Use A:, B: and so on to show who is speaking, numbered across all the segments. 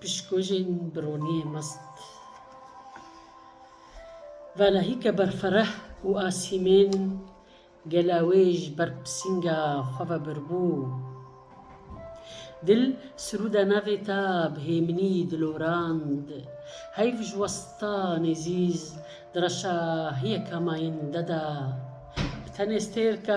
A: Pişkojên bi roniyê mast. Vala hîka berfereh û asîmên gela wê ji ber pisînga xwe ve birbû. Dil sirûda navê ta bi hêminî dilorand. Heyv ji westa Nêzîz di reşa hiyeka mayînde de bi tenê stêrka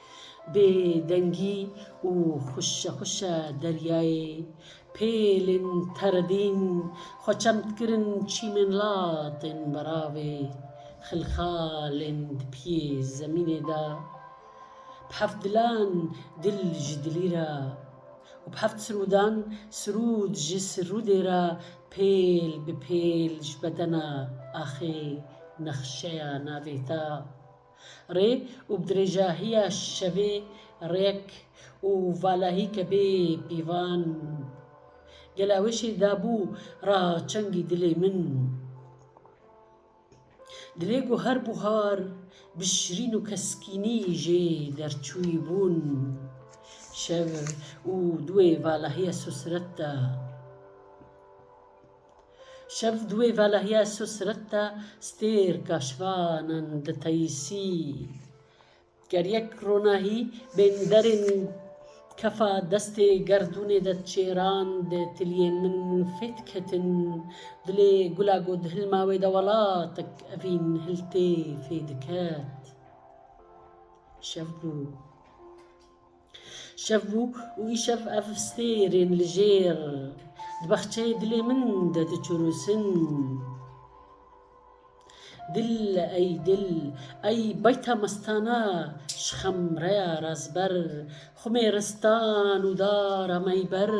A: Bê dengî û xwişe xwişe deryayê pêlên teredîn xwe çem dikirin çîmên latên beravê xilxalên di piyê zemînê de bi heft dilan dil ji dilî re û bi heft sirûdan sirûd ji sirûdê re pêl bi pêl ji bedena axê nexşeya navê te. Rê û bi dirêjahiya şevê rêyek û valahî ke bê pîvan gela weşê dabû ra çengî dilê min. Dilê ku her buhar bi şirîn û keskînî jê derçûyî bûn, şev û duê valahiya sosiret da. Şev duê velahiya su sireta stêr kaşvanan diteyisî. Ger yek ronahî bên derên kefa destê gerdûnê de çêrand, tiliyên min fêt ketin. Dilê gula ku di hilma wê de welatek evîn hiltê fê diket. Şev bû. Şev bû û îşev ev stêrên li jêr di baxçeyê dilê min de diçûnûsin. Dil ey dil, ey beyta mestana ji xemreya razber, xumê ristan û dara me yî ber.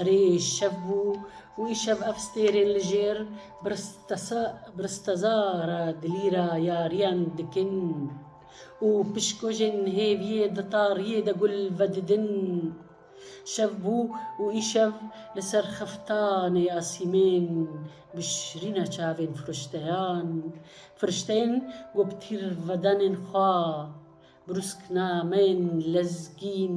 A: Erê şev bû û îşev ev stêrên li jêr bi risteza re dilîra yariyan dikin. Û pişkojên hêviyê di tariyê de gul vedidin. Şev bû û îşev li ser xiftanê ya sîmên bi şirîna çavên firişteyan, firişteyên ku bi tîrvedanên xwe brûsknameyên lezgîn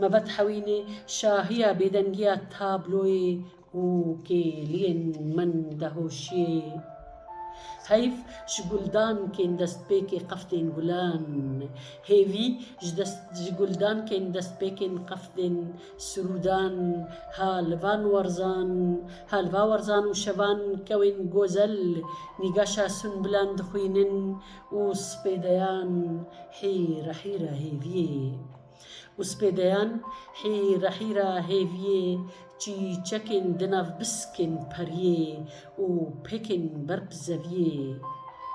A: Me vat hewînê şahiya bêdengiya tabloyê û kêliyên min de hoşiyê. Heyf ji guldankên destpêkê qefdên gulan, hêvî ji dest ji guldankên destpêkên qefdên sirûdan ha li van werzan ha li va werzan û şevan kewên gozel nîgaşa sunbilan dixwînin û spêdeyan hîr hîr a hêviyê. Û spêdeyan hîra hîra hêviyê Çî çekên di nav biskên periyê Û pêkên berb zeviyê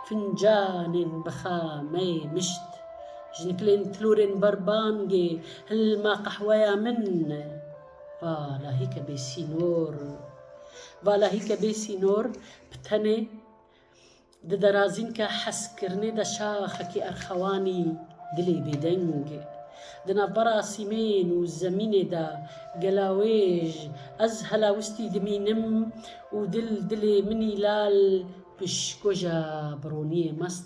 A: Fincanên bixa meyê mişt Ji nikilên tilorên bar bangê Hilma qehweya min Va lahîke bê sînor Va lahîke bê sînor Bi tenê Di derazînka hezkirinê de şaxekî erxewanî dilê bêdeng. Di navbera asîmên û zemînê de gelawêj ez helawistî dimînim û dil dilê min î lal pişkoja bironiyê mast.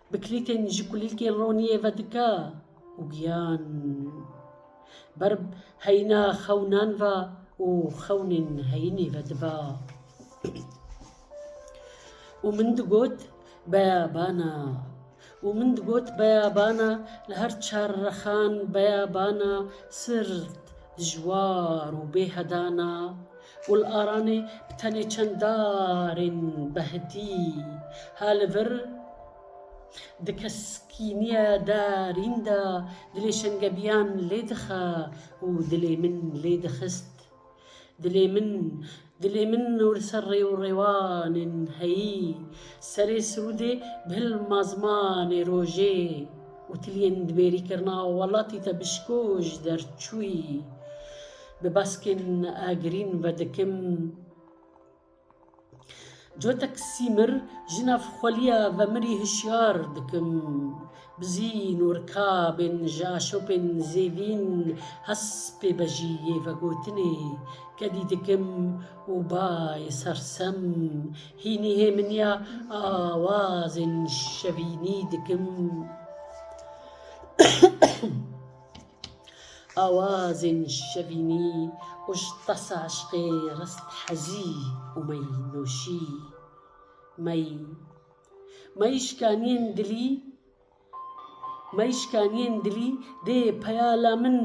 A: Bi kilîtên ji kulîlkên roniyê ve dike û giyan ber heyîna xewnan ve û xewnên heyînê ve diba. Û min digot beyabana û min digot beyabana li her çar rexan beyabana sirt Dijwar û bêhedan a. Gul aranê bi tenê çend darên behdî ha li vir di keskîniya darîn de dilê şengebiyan lê dixa û dilê min lê dixist. Dilê min Dilê min û li ser rê û rêwanên heyî, serê sirûdê bi hil mazmanê rojê û tiliyên dibêrîkirina welatî te bişkoj derçûyî. Bi baskên agirîn vedikim. Cotek Sîmir ji nav xweliya vemirî hişyar dikim. Bizî norikabên ji aşopên zêvîn hes pê bejî yê vegotinê kedî dikim û bayê sersem hînî hêminiya awazên şevînî dikim. Awazên şevînî û ji tasa eşqê rist hezî û mey nûşî. Mey, mey şikaniyên dilî Mey şikaniyên dilî dê peya la min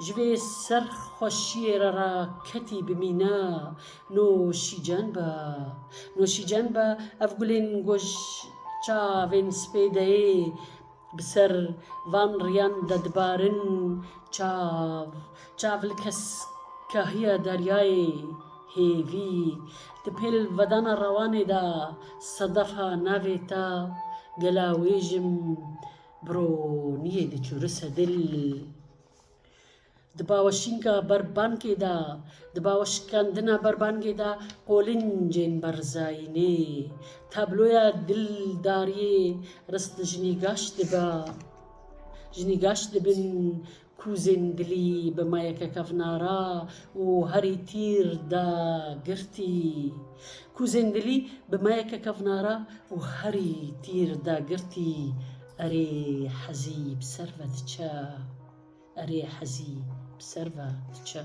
A: ji vê serxweşiyê re ra ketî bi mîna nûşîcan be. Nûşîcan be ev gulên ku ji çavên spê deyê Bi ser van riyan de dibarin çav çav li keskahiya deryayê hêvî. Di pêl vedana rewanê de sedefa navê te gela wê jim bironiyê diçûrise dil. Di bawşînka berbangê de, di bawşikandina berbangê de qolincên berzayînê, tabloya dildariyê rist li jinî gaş dibe. Jinî gaş dibin kûzên dilî bi mayeke kevnara û herî tîr de girtî. Kûzên dilî bi mayeke kevnara û herî tîr de girtî, erê hezî bi ser ve diçe. Erê hezî bi ser ve diçe.